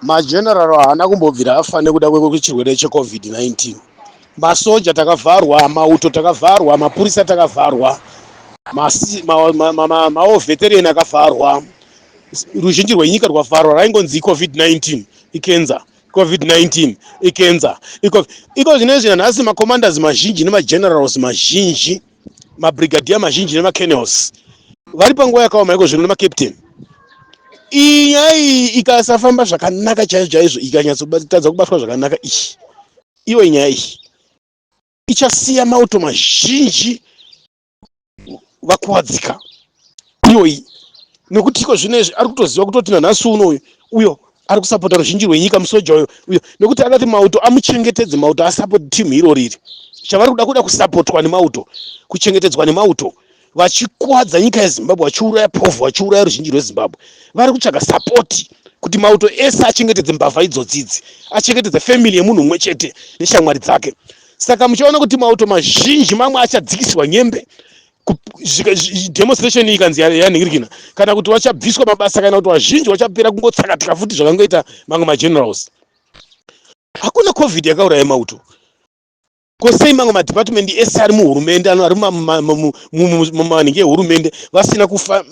Mageneral haana kumbobvira afa nekuda kwechirwere cheCovid-19. Masoja takavharwa, mauto takavharwa, mapurisa takavharwa, mawo veteran akavharwa, ruzhinji rwenyika rwavharwa, raingonzi iCovid-19, ikenza, Covid-19, ikenza, iko zvinezvi nanhasi macommanders mazhinji nemagenerals mazhinji. mabrigadier mazhinji nemacanels vari panguva yakaoma iko zvino nemacaptain iyi nyaya iyi ikasafamba zvakanaka chaizvo chaizvo ikanyatsotadza kubatwa zvakanaka iyi ivo nyaya iyi ichasiya mauto mazhinji vakuwadzika iyoyi nekuti iko zvino izvi ari kutoziva kutoti nanhasi uno uyo uyo ari kusapota ruzhinji rwenyika musoja uyo uyo nekuti anoti mauto amuchengetedze mauto asapoti team iro riri chavari kuda kuda kusapotwa nemauto kuchengetedzwa nemauto vachikwadza nyika yezimbabwe vachiuraya povhu vachiuraya ruzhinji rwezimbabwe vari kutsvaga sapoti kuti mauto ese achengetedze mbavha idzodzidzi achengetedze family yemunhu umwe chete neshamwari dzake saka muchaona kuti mauto mazhinji mamwe achadzikisirwa nyembe demonstration ikanzi yanhingirikina kana kuti vachabviswa mabasa kana kuti vazhinji vachapera kungotsakatika futi zvakangoita mamwe magenerals hakuna covid yakauraya mauto ko sei mamwe madepartment ese ari muhurumende ari mumanhingi ehurumende vasina kufa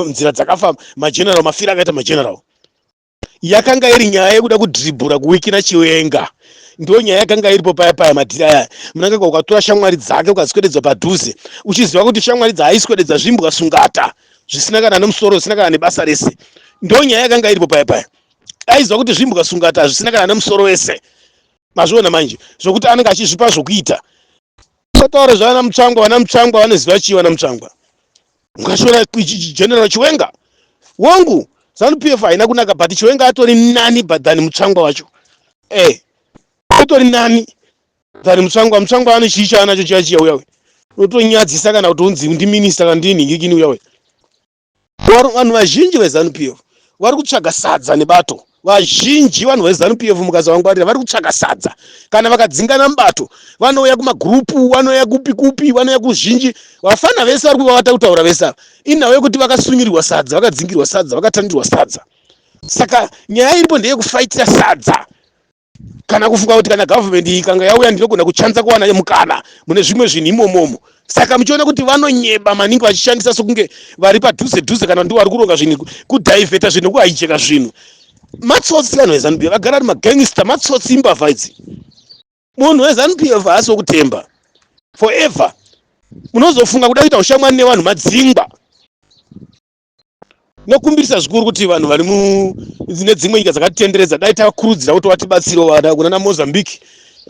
nzira dzakafa mageneral mafira akaita mageneral yakanga iri nyaya yekuda kudribhura kuwikira chiwenga ndo nyaya yakanga iripo paya paya madhiri aya munangagwa ukatora shamwari dzake ukadzikwededza padhuze uchiziva kuti shamwari dzaaiswededza zvimbwa sungata zvisina kana nemusoro zvisina kana nebasa rese ndo nyaya yakanga iripo paya paya aiziva kuti zvimbwa sungata zvisina kana nemusoro wese mazviona manje zvokuti anenge achizvipa zvokuita totaura zvavana mutsvangwa vana mutsvangwa vanoziva chii vana mutsvangwa Mukashora General Chiwenga wangu Zanu PF haina kunaka but Chiwenga atori nani but than Mutsvangwa wacho. Eh. Atori nani than Mutsvangwa. Mutsvangwa ane chii chaanacho chiya chiya uya uya. Unotonyadzisa kana kuti unzi ndi minister kana ndi nhingikini uya uya. Vanhu vazhinji veZanu PF vari kutsvaga sadza nebato. Vazhinji vanhu veZanu PF mukasavangwarira vari kutsvaka sadza. Kana vakadzingana mubato vanouya kumagurupu, vanouya kupi kupi, vanouya kuzhinji. Vafana vese vari kuvavata kutaura vese ava. Inhau yekuti vakasungirirwa sadza, vakadzingirwa sadza, vakatandirwa sadza. Saka nyaya iripo ndeyekufaitira sadza. kana kufunga kuti kana government iyi kanga yauya ndinogona kuchanza kuwana mukana mune zvimwe zvinhu imomomo saka muchiona kuti vanonyeba maningi vachishandisa sokunge vari padhuze dhuze kana ndivo vari kuronga zvinhu kudhaivheta zvinhu kuhaijeka zvinhu matsotsi vanhu vezanup vagara ari magangster matsotsi imbavha idzi munhu wezanup eva haasi wokutemba forever munozofunga kuda kuita ushamwani nevanhu madzingwa Tinokumbirisa zvikuru kuti vanhu vari mune dzimwe nyika dzakatitenderedza dai tavakurudzira kuti vatibatsire vada kuna na Mozambique,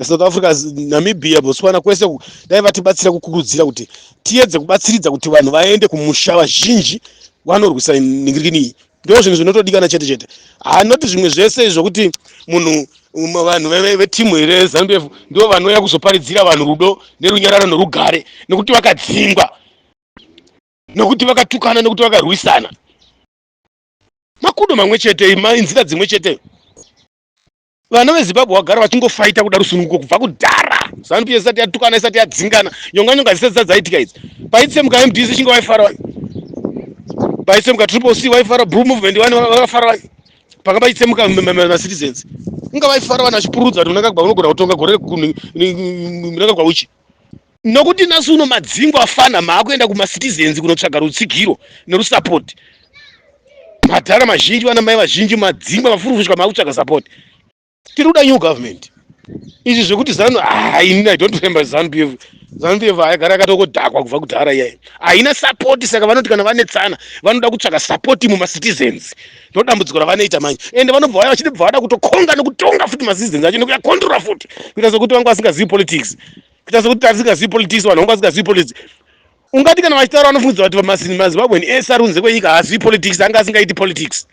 South Africa, Namibia, Botswana kwese uku dai vatibatsira kukurudzira kuti tiyedze kubatsiridza kuti vanhu vaende kumusha vazhinji vanorwisa nhingirikini iyi. Ndoo zvinhu zvinotodikana chete chete. Haa not zvimwe zvese izvo kuti munhu um, vanhu ve- ve- vetimu here ZanuPF ndivo vanouya kuzoparidzira vanhu rudo nerunyararo nerugare nekuti vakadzingwa nekuti vakatukana nekuti vakarwisana makudo mamwe chete inzira dzimwe chete vana vezimbabwe vagara vachingofaita kuda rusununguko kubva kudhara zanup isati yatukana isati yadzingana nyonga nyonga dzisati dzadzaitika idzi paitsemuka mdc chinge vaifara wani paitsemuka triple c vaifara blue movement wani vafara wani panga paitsemuka macitizens inga vaifara wani vachipurudza kuti unangagwa unogona kutonga gore rekunangagwa uchi nokuti nhasi uno madzingo afana maakuenda kumacitizens kunotsvaga rutsigiro nerusapoti madhara mazhinji vana mai vazhinji madzingwa vafurufushwa maakutsvaga sapoti tiri kuda new government izvi zvekuti zanu haini ah, i don't remember zanu pf zanu pf haigara yakatokodhakwa kubva kudhara iyayi haina sapoti saka vanoti kana vanetsana vanoda kutsvaga sapoti mumacitizens ndodambudziko ravanoita manje ende vanobva vaya vachiti bva vada kutokonga nekutonga futi masistens acho nekuya controla futi kuita sekuti vanga vasingazivi politics kuita sekuti tarisingazivi politics vanhu vanga vasingazivi politics ungati kana vachitaura vanofungiza kuti mazimbabwen ese ari kunze kwenyika haazivi politics anga asingaiti politics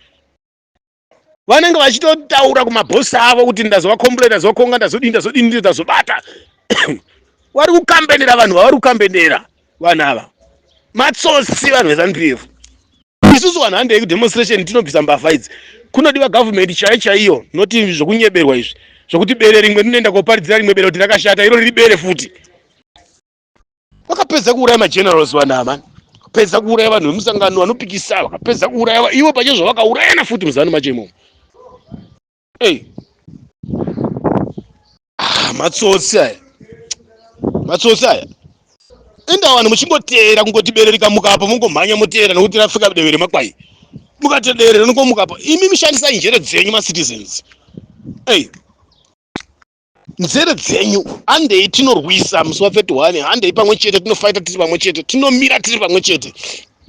vanenge vachitotaura kumabhosi avo kuti ndazovakombula ndazovakonga ndazodii ndazodii ndii ndazobata vari kukambenera vanhu vavari kukambenera vanhu ava matsotsi vanhu vezanupiyefu isusu vanhu handei kudemonstration tinobvisa mbavha idzi kunodiwa government chai chaiyo noti zvokunyeberwa izvi zvokuti bere rimwe rinoenda koparidzira rimwe bere kuti rakashata iro riri bere futi vakapedza kuuraya magenerals vanama pedza kuuraya vanhu vemusangano vanopikisa vakapedza kuuraya ivo pache zvavakaurayana futi muzanu macho imomo Hey. Ah, matsotsi aya matsotsi aya enda vanhu muchingoteera kungoti bere rikamuka apa mungomhanya moteera nokuti rafika deve remakwai mukati deve rinokomuka apa imi mishandisai njere dzenyu macitizens ei hey. nzere dzenyu handei tinorwisa musi wa 31 handei pamwe chete tinofaita tiri pamwe chete tinomira tiri pamwe chete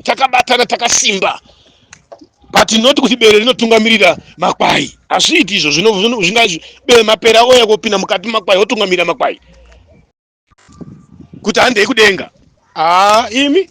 takabatana takasimba but not kuti bere rinotungamirira makwai hazviiti izvo zvingaizvo bere mapera oya kopinda mukati makwai otungamirira makwai kuti handei kudenga haa imi